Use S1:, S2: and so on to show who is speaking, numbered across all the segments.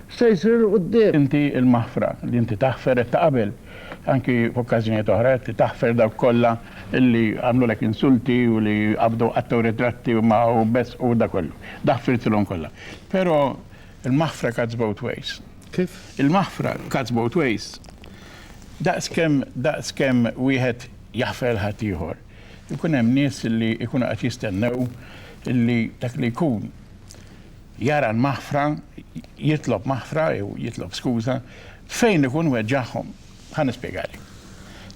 S1: se jsir 'il quddiem. Inti l-maħfra,
S2: li inti taħfer qed taqabel, anki f'okkażjonijiet oħra, qed taħfer dawk kollha li għamlulek insulti u li qabdu qattgħu ritratti u magħhom beżqu u dak kollu. Daħfirtilhom kollha. Però l-maħfra cuts both ways. Kif? Il-maħfra
S1: cuts
S2: both ways. Daqs kemm daqs kemm wieħed jaħfer lil ħaddieħor, ikun hemm nies li jkunu qed jistennew li dak li jkun Jara l-maħfra, jitlob maħfra jew jitlob skuża, fejn ikun weġġagħhom. Ħa nispjegali.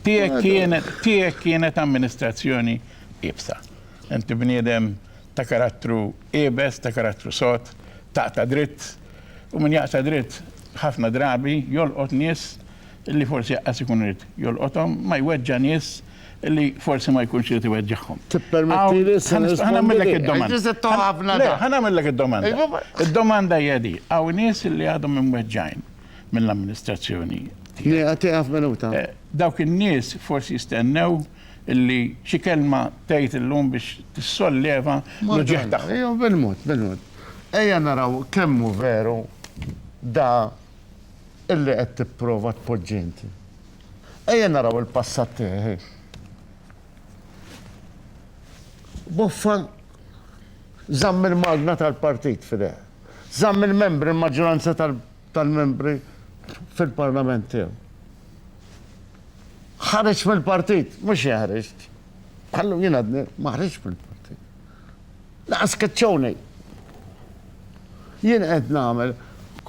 S2: Tiegħek kienet, tiegħek kienet amministrazzjoni iebsa. Inti bniedem ta' karattru iebes, ta' karattru sod, taqta' dritt, u min jaqta' dritt ħafna drabi jolqot nies li forsi aqqas ikun irid jolqothom, ma jweġġa' nies li forsi ma jkunx irid iweġġagħhom. Tippermettili issa nirrispondi?
S1: Ħa nagħmillek id-domanda.
S2: Le, ħa nagħmillek id-domanda. Id-domanda hija di, hawn nies li għadhom imweġġgħin mill-amministrazzjoni. Nieqaf, tieqaf
S1: minuta. Dawk in-nies
S2: forsi jistennew li xi kelma tgħid illum biex tissolleva l-uġigħ tagħhom. Ejjew bil-mod, bil-mod.
S1: Ejja naraw kemm hu veru da illi qed tipprova tpoġġi inti. Ejja naraw il-passat tiegħi. Boffa żamm il-magna tal-partit f'idejh. Żamm il-membri, il-maġġoranza tal-membri fil-parlament tiegħu. Ħareġ mill-partit, mhux jeħreġ. Ħallu jien għadni, ma ħriġ mill-partit. L-asketjoni. Jien qed nagħmel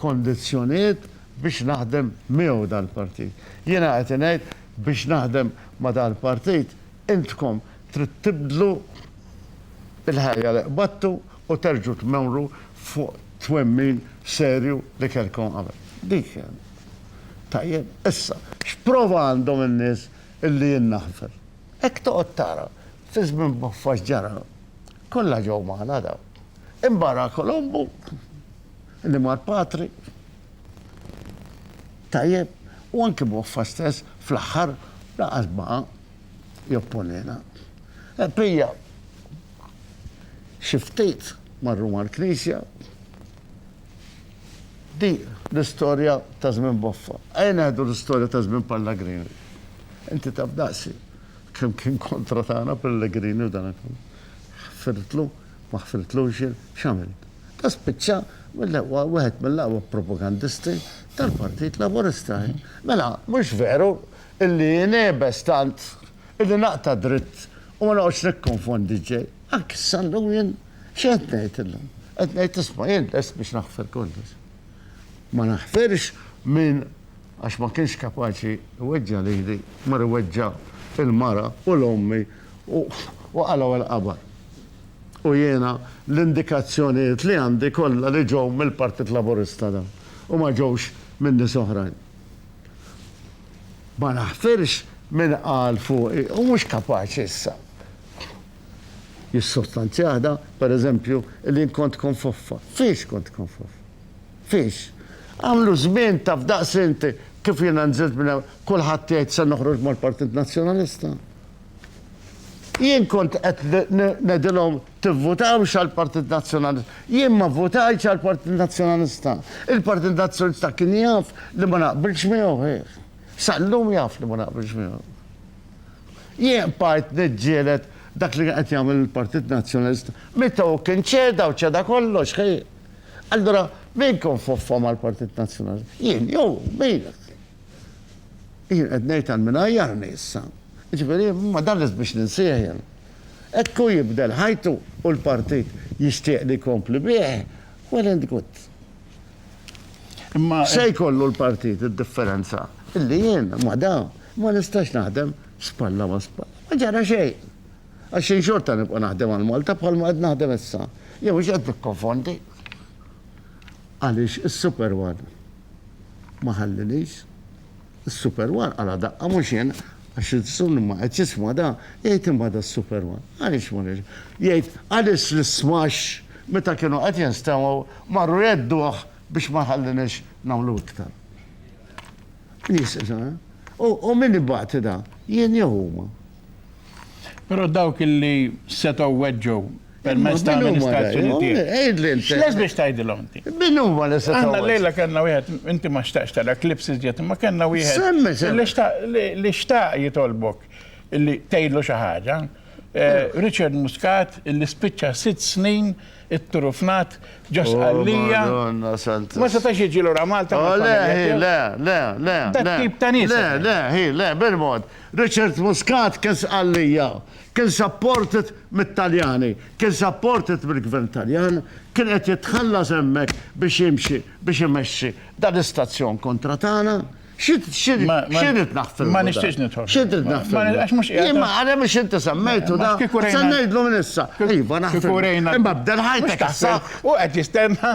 S1: kondizzjonijiet biex naħdem miegħu dal-partit. Jiena qed ngħid biex naħdem ma' dal-partit intkom trid tibdlu l-ħajja li qbadtu u terġgħu tmorru fuq twemmin serju li kellkom qabel. Dik hi. Tajjeb, issa, x'prova għandhom in-nies illi jien naħfer? Hekk toqgħod tara Fi żmien Boffa x'ġara? Kollha ġew magħna dawn. Imbagħad Kolombu li mar patri. Tajjeb, u anki Boffa stess fl-aħħar lanqas baqa' jopponina. E pija xi ftit marru mal-Knisja. Di l-istorja ta' żmien Boffa. Ejja neħdu l-istorja ta' żmien Pallagrini. Inti taf daqsi. Kemm kien kontra tagħna Pellegrini u dana kollu. Ħfirtlu, ma ħfirtlux jien, x'għamilt? Dan spiċċa mill-aqwa, wieħed mill-aqwa propagandisti tal-Partit Laburista. Mela, mhux veru illi jien iebes tant illi naqta' dritt u ma noqgħodx nikkonfondi l-ġej. Anki issa llum jien xi qed ngħid illum? Qed ngħid isma' jien lest biex naħfir kollox. Ma naħfirx min Għax ma kienx kapaċi jweġġa' lili, mar iweġġa' l-mara u 'l ommi u qalgħu l-qabar. U jiena l-indikazzjonijiet li għandi kollha li ġew mill-Partit Laburista dawn u ma ġewx minn nies oħrajn. Ma naħfirx min qal fuqi u mhux kapaċi issa jissostanzjah da, per eżempju, li jien kont konfoffa. Fiex kont konfoffa? Fiex? Għamlu żmien taf daqs int kif jiena nżilt minn hawn kulħadd jgħid se noħroġ mal-Partit Nazzjonalista. Jien kont qed ngħidilhom tivvutawx għall-Partit Nazzjonalista. Jien ma vvutajtx għall-Partit Nazzjonalista. Il-Partit Nazzjonalista kien jaf li ma naqbilx miegħu ħih. Sal-lum jaf li ma naqbilx miegħu. Jien bqajt niġġieled dak li qed jagħmel il-Partit Nazzjonalista. Meta hu kien ċeda u ċeda kollox ħih. Allura min kon foffa mal-Partit Nazzjonalista? Jien jew hu? Min qed jgħid? Jien qed ngħid għal min għajjarni issa. Jiġifieri ma dan lest biex ninsih jien. Hekk hu jibdel ħajtu u l-Partit jixtieq li jkompli bih, well and good. Imma se jkollu l-Partit id-differenza illi jien ma' dawn ma nistax naħdem spalla ma' spalla. Ma ġara xejn. Għax jien xorta nibqa' naħdem għal Malta bħalma qed naħdem issa. Jew mhux qed nikkonfondi? Għaliex is-Super One ma ħallinix. Is-Super One qala' daqqa mhux jien, għax il-Sun ma qed jisma' da, jgħid imma da s-Super One. Għaliex ma nirġa'. Jgħid għaliex l-ismax meta kienu qed jinstemgħu marru jgħedduh biex ma jħallinix nagħmlu iktar. Nies, u min ibati da? Jien jew huma? Però
S2: dawk illi setgħu
S1: weġġgħu
S2: permezz ta' amministrazzjoni tiegħek. X'les biex
S1: tgħidilhom
S2: inti? Min huma li setgħu? Aħna
S1: llejla kellna wieħed,
S2: inti ma xtaqx tara klips iżjed, imma kellna wieħed
S1: li
S2: xtaq jitolbok illi tgħidlu xi ħaġa. Richard Muscat illi spiċċa sitt snin itturufnat ġo Sqallija. Ma setax jiġi lura Malta. Le, le, le,
S1: le. Dak tip ta'
S2: nies. Le, le, le, bil-mod.
S1: Richard Muscat kien Sqallija, kien supported mit-Taljani, kien supported mill-Gvern Taljan, kien qed jitħallas hemmhekk biex jimxi biex imexxi dan l-istazzjon kontra tagħna. Xi rrid naħfilmu dan? Ma nixtieqx nidħol.
S2: Xi rrid naħfilmu? Għax
S1: mhux qiegħed. Imma
S2: għalhekk biex inti
S1: semmejtu dan. Kieku rejna. Se ngħidlu minn issa. Iva naħfilmu. Kieku rejna. Imma b'delħajtek. Mhux taħseb. Hu qed jistenna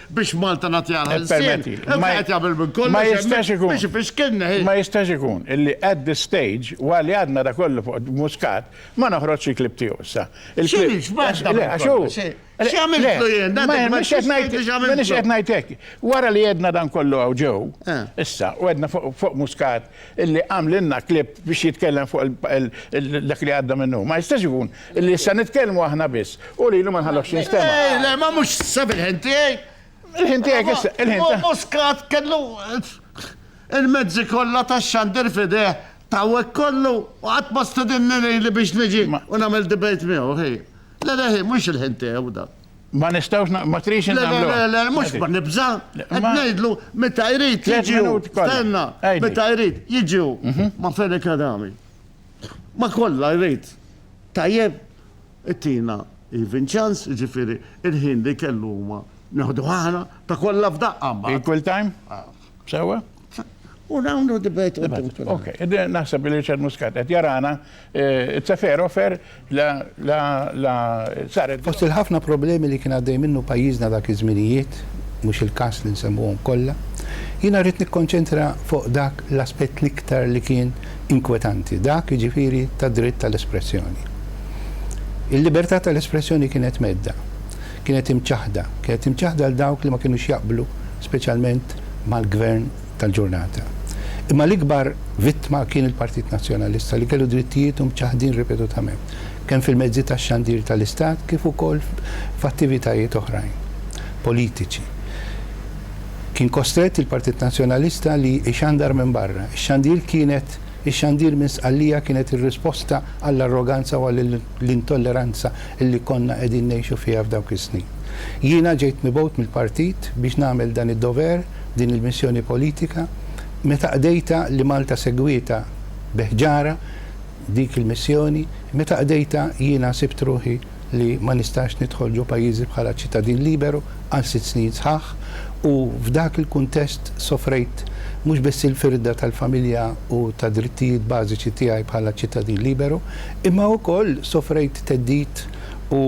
S1: biex Malta nagħtiha l-ħelsien, imma qed
S2: jagħmel minn kollox
S1: hemmhekk biex
S2: ifixkilna hi. Ma
S1: jistax ikun
S2: illi at this stage, waqt li għadna da kollu fuq Muscat, ma noħroġx il-clip tiegħu issa. X'inhi, x'bagħad tagħmel? Għax hu,
S1: x'għamiltlu jien?
S2: M'iniex qed ngħid hekk. Wara li għedna dan kollu hawn ġew, issa, u għedna fuq Muscat illi għamlilna clip biex jitkellem fuq dak li għadda minnu. Ma jistax ikun Illi issa nitkellmu aħna biss. U lilu ma nħallokx jinstema'. Eh, le, ma mhux sab
S1: il-ħin tiegħi. Il-ħin tiegħek issa,
S2: il-ħin tiegħek. Muscat kellu
S1: il-mezzi kollha tax-xandir fideh tawek kollu u qatt ma stedinni li biex niġi u nagħmel debate miegħu ħi. Le le ħi, mhux il-ħin tiegħu dan. Ma nistawx,
S2: ma trix nagħmlu. Le, le, mhux ma nibża.
S1: Qed ngħidlu meta jrid jiġu. Tenna, meta jrid jiġu. Mhm. Ma fejn kadami. Ma kollha jrid. Tajjeb, ittina even chance, jiġifieri il-ħin li kellu huma neħduh aħna ta' kollha f'daqqa mbagħad. Equal time?
S2: Sewwa? U
S1: nagħmlu debate. Okej,
S2: naħseb li Richard Muscat qed jarana, it's a fair offer, La, la, la, saret. Fost il-ħafna problemi
S3: li kien għaddej minnu pajjiżna dak iż-żminijiet, mhux il-każ li nsemmuhom kollha, jiena rrid nikkonċentra fuq dak l-aspett l-iktar li kien inkwetanti, dak, jiġifieri, tad-dritt tal-espressjoni. Il-libertà tal-espressjoni kienet mhedda, kienet imċaħħda, kienet imċaħħda 'l dawk li ma kinux jaqblu speċjalment mal-Gvern tal-ġurnata. Imma l-ikbar vittma kien il-Partit Nazzjonalista li kellu drittijietu mċaħħdin ripetutament, kemm fil-mezzi tax-xandir tal-Istat kif ukoll f'attivitajiet oħrajn politiċi. Kien kostrett il-Partit Nazzjonalista li ixandar minn barra. Ix-xandir kienet ix-xandir minn Sqallija kienet ir-risposta għall-arroganza u għall-intolleranza li konna qegħdin ngħixu fiha f'dawk is-snin. Jiena ġejt mibgħut mill-Partit biex nagħmel dan id-dover, din il-missjoni politika meta qdejtha li Malta segwietha bi ħġara dik il-missjoni, meta qdejtha jiena sibt ruħi li ma nistax nidħol ġo pajjiżi bħala ċittadin liberu għal sitt snin sħaħ u f'dak il-kuntest sofrejt mhux biss il-firda tal-familja u tad-drittijiet bażiċi tiegħi bħala ċittadin liberu imma wkoll sofrejt theddid u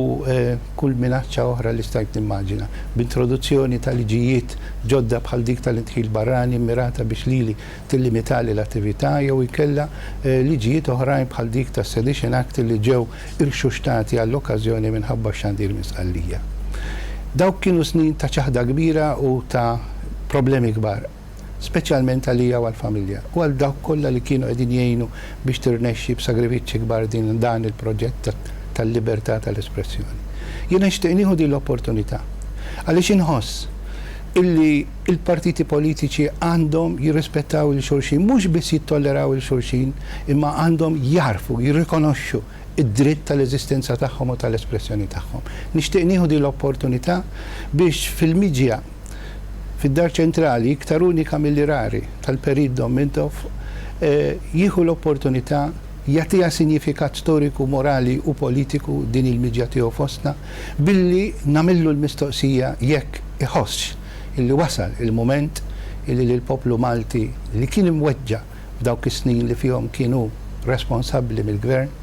S3: kull minaċċa oħra li stajt nimmaġina, b'introduzzjoni ta' liġijiet ġodda bħal dik tal-idħil barrani mmirata biex lili tillimitali l-attività jew inkella liġijiet oħrajn bħal dik tas-Sedition Act li ġew irxuxtati għall-okkażjoni minħabba x-xandir minn Sqallija. Dawk kienu snin ta' ċaħda kbira u ta' problemi kbar. speċjalment għalija u għall-familja u għal dawk kollha li kienu qegħdin jgħinu biex tirnexxi b'sagrifiċċji kbar din dan il-proġett tal-libertà tal-espressjoni. Jiena nixtieq nieħu din l-opportunità għaliex inħoss illi l-partiti politiċi għandhom jirrispettaw lil xulxin, mhux biss jittolleraw lil xulxin, imma għandhom jagħrfu, jirrikonoxxu d-dritt tal-eżistenza tagħhom u tal-espressjoni tagħhom. Nixtieq nieħu din l-opportunità biex fil-midja fid-Dar Ċentrali iktar unika milli rari tal-Perit Dom Mintoff jieħu l-opportunità jagħtiha sinjifikat storiku, morali u politiku din il-miġja tiegħu fostna billi nagħmillu l-mistoqsija jekk iħossx illi wasal il-mument illi lill-poplu Malti li kien imweġġa' f'dawk is-snin li fihom kien hu responsabbli mill-Gvern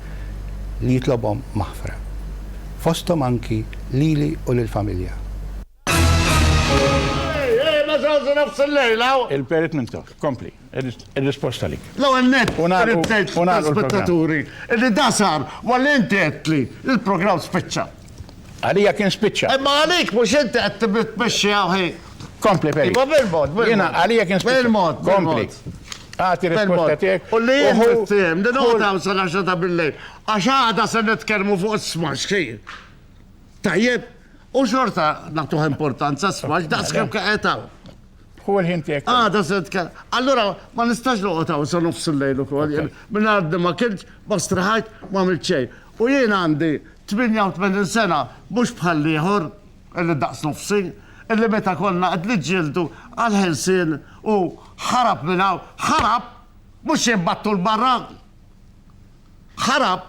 S3: li jitlobhom maħfra. Fosthom anki lili u lill-familja.
S2: Il-perit minn tok, kompli, il-risposta li. L-għan
S1: net,
S2: spettaturi,
S1: li da sar, ma l-inti għetli, il-program spiċċa. Għalija kien
S2: spiċċa. Imma għalik, mux inti
S1: għed tibit meċċi għawħi. Kompli, peri. Ma
S2: bil-mod, bil-mod. Jena,
S1: għalija kien spiċċa.
S2: Bil-mod, kompli. Għati risposta tiegħek.
S1: U li jħu. Din għodaw sal-10 ta' bil-lejl. Għax għada se nitkellmu fuq s-smax, Tajjeb, u xorta nagħtuh importanza sfax daqs kemm qed hawn. Hu l-ħin
S2: tiegħek. Għada se tkellem.
S1: Allura ma nistax noqgħod hawn sa nofs il-lejl ukoll. Minn għadni ma kiltx, ma strahajt, ma għamilt xejn. U jien għandi 88 sena mhux bħal ieħor illi daqs nofsi, illi meta konna qed niġġieldu għall-ħelsien u ħarab minn hawn, ħarab, mhux jien battu 'l barra. Ħarab.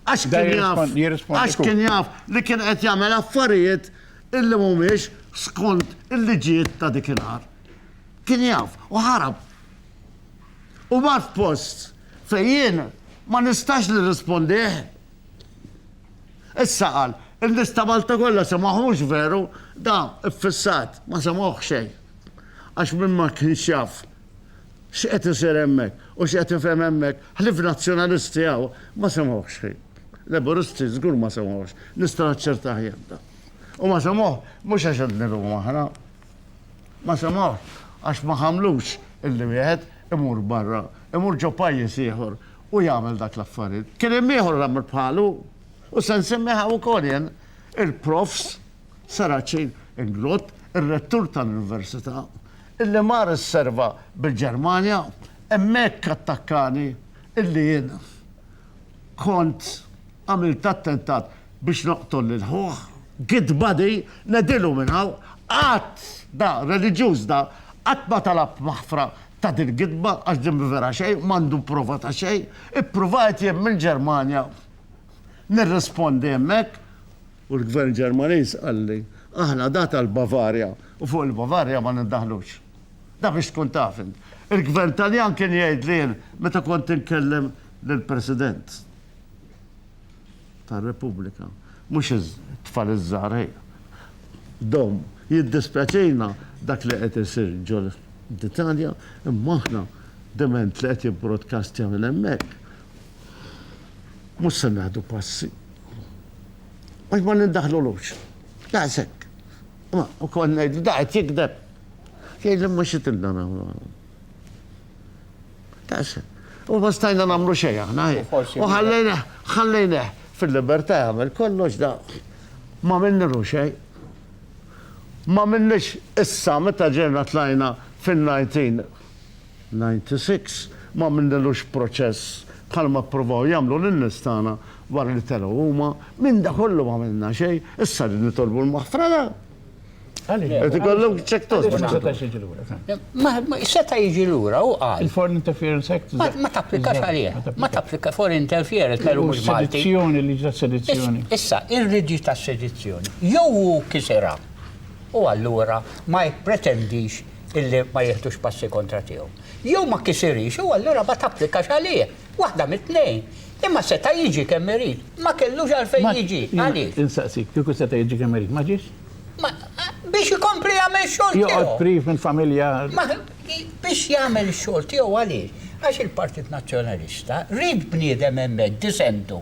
S1: Għax kien jaf, għax kien jaf li kien qed jagħmel affarijiet illi mhumiex skont il-liġijiet ta' dik il-art. Kien jaf u ħarab. U mar f'post fejn jien ma nistax nirrispondih. Issa qal, in-nies ta' Malta kollha semgħuhux veru, da ffissat, ma semgħuh xejn. Għax min ma kienx jaf X'qed isir hemmhekk u x'qed ifhem hemmhekk, ħlief Nazzjonalisti hawn ma semgħuhx xejn. Laburisti żgur ma semgħuhx, nista' naċċertah jien dan. U ma semgħuh mhux għax qed nilhmu aħna. Ma semgħuhx għax ma ħammlux illi wieħed imur barra, imur ġo pajjiż ieħor u jagħmel dak l-affarijiet. Kien hemm ieħor għamel bħalu u se nsemmih hawn ukoll jien, il-Profs. Sarace Inglott, ir-Rettur tal-Università, illi mar isserva bil-Ġermanja, hemmhekk attakkani illi jien kont għamilt attentat biex noqtol lil ħuh. Git body, ngħidilu minn hawn, qatt da, reliġjuż da, qatt ma talab maħfra ta' dil-gidba għax din mhi vera xejn, m'għandu prova ta' xejn. Ippruvajt jien mill-Ġermanja nirrispondi hemmhekk. U l-Gvern Ġermaniż qalli, Aħna dat għall-Bavarja u fuq il-Bavarja ma nindaħlux. Dak biex tkun taf int. Il-Gvern Taljan kien jgħidli jien meta kont inkellem lill-President tar-Repubblika, mhux it-tfal iż-żgħar hi. Dom, jiddispjaċina dak li qed isir ġo l-Italja, imma aħna diment li qed jibbrodkastja minn hemmhekk. Mhux se nieħdu passi. Għax ma nindaħlulux. Daqs hekk. Imma ukoll ngħidlu da qed jigdeb. Jgħidli imma xi tridna nagħmlu. Daqs hekk. U ma stajna nagħmlu xejn aħna. U ħallejna ħallejna fil-libertà jagħmel kollox da ma minnilu xejn. Ma minnix issa meta ġejna tlajna fin-19 96 ma għamilnilux proċess bħalma ppruvaw jagħmlu lin-nies tagħna wara li telgħu huma, minn dak kollu ma għamilna xejn, issa qegħdin nitolbu l-maħfra le? Għaliex? Irid ikollok check toast biex tagħmel. Għaliex ma setax jiġi lura dan?
S4: Seta' jiġi lura, hu qal. Il-Foreign Interference Act.
S2: Ma tapplikax għalih.
S4: Ma tapplikax Foreign Interference veru mhux Malti. Sedizzjoni, liġi tas-sedizzjoni.
S2: Issa, il-liġi
S4: tas-sedizzjoni jew hu kisirha u allura ma jippretendix illi ma jieħdux passi kontra tiegħu. Jew ma kisirix u allura ma tapplikax għalih. Waħda mit-tnejn. Imma seta' jiġi kemm irid. Ma kellux għalfejn jiġi. Għaliex? Insaqsik, kieku seta'
S2: jiġi kemm irid, ma ġiex? Ma, biex
S4: ikompli jagħmel ix-xogħol tiegħu. Joqgħod priv mill-familja.
S2: Ma, biex
S4: jagħmel ix-xogħol tiegħu għaliex? Għax il-Partit Nazzjonalista ried bniedem hemmhekk, disentu.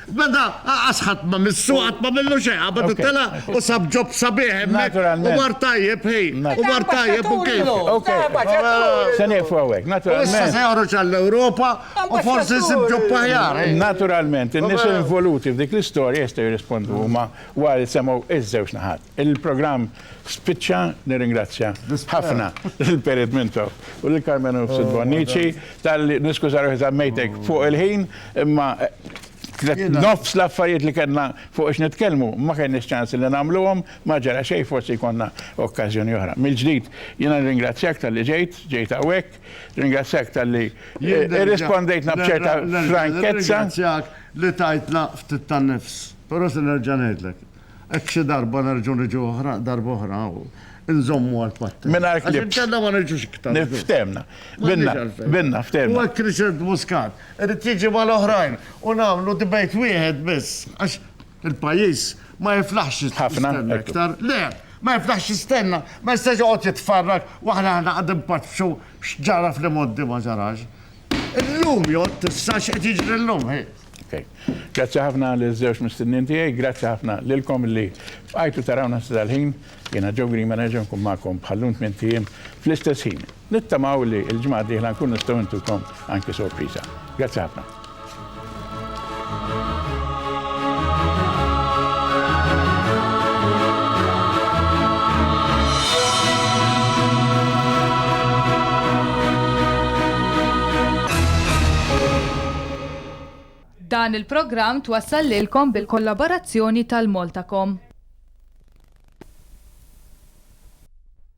S1: Beda, qas ħadd ma missu, qatt ma minnu xejn, qabad tela' u sab job sabiħ hemmhekk u mar
S2: tajjeb hi,
S1: u mar tajjeb u kif.
S2: Se nieqfu hawnhekk, naturalment. Issa se joħroġ għall-Ewropa
S1: u forsi jsib job aħjar. Naturalment, in-nies
S2: involuti f'dik l-istorja jistgħu jirrispondu huma wara li semgħu ż-żewġ naħat. Il-programm spiċċa, nirringrazzja ħafna lil Perit Mintoff u lil Carmen Hofstede Bonnici talli niskuża ruħi żammejtek fuq il-ħin imma nofs l-affarijiet li kellna fuq x'nitkellmu ma kellniex ċans li nagħmluhom, ma ġara xejn forsi jkollna okkażjoni oħra. Mill-ġdid jiena nirringrazzjak talli ġejt, ġejt hawnhekk, nirringrazzjak talli irrispondejtna b'ċerta frankezza. Nerġa' nirringrazzjak li
S1: tajtna ftit tan-nifs, però se nerġa' ngħidlek. Hekk xi darba nerġgħu niġu oħra, darba oħra u nżommu għall-patt. Mingħajr clips. Għax inkella ma
S2: niġux iktar.
S1: Nif, ftehmna.
S2: Binna, binna, ftehmna. U hekk
S1: Richard
S2: Muscat
S1: irid jiġi mal-oħrajn u nagħmlu debate wieħed biss għax il-pajjiż ma jiflaħx jistenna iktar.
S2: Le, ma
S1: jiflaħx jistenna, ma jistax joqgħod jitfarrag u aħna aħna qed inpaċċu x'ġara fl-imgħoddi ma ġarax. Illum jgħodd issa x'qed jiġri llum, ħi. Okay. Grazzi
S2: ħafna li żewġ mistinnin tiegħi, grazzi ħafna lilkom li bqajtu tarawna sa dal-ħin. Jiena Joe Green ma nerġa' nkun magħkom bħallum tmien tiem fl-istess ħin. Nittamaw li l-ġimgħa dieħla nkun nistgħu intukom anki sorpriża. Grazzi ħafna.
S5: Dan il-programm twassal lilkom bil-kollaborazzjoni tal-Maltacom.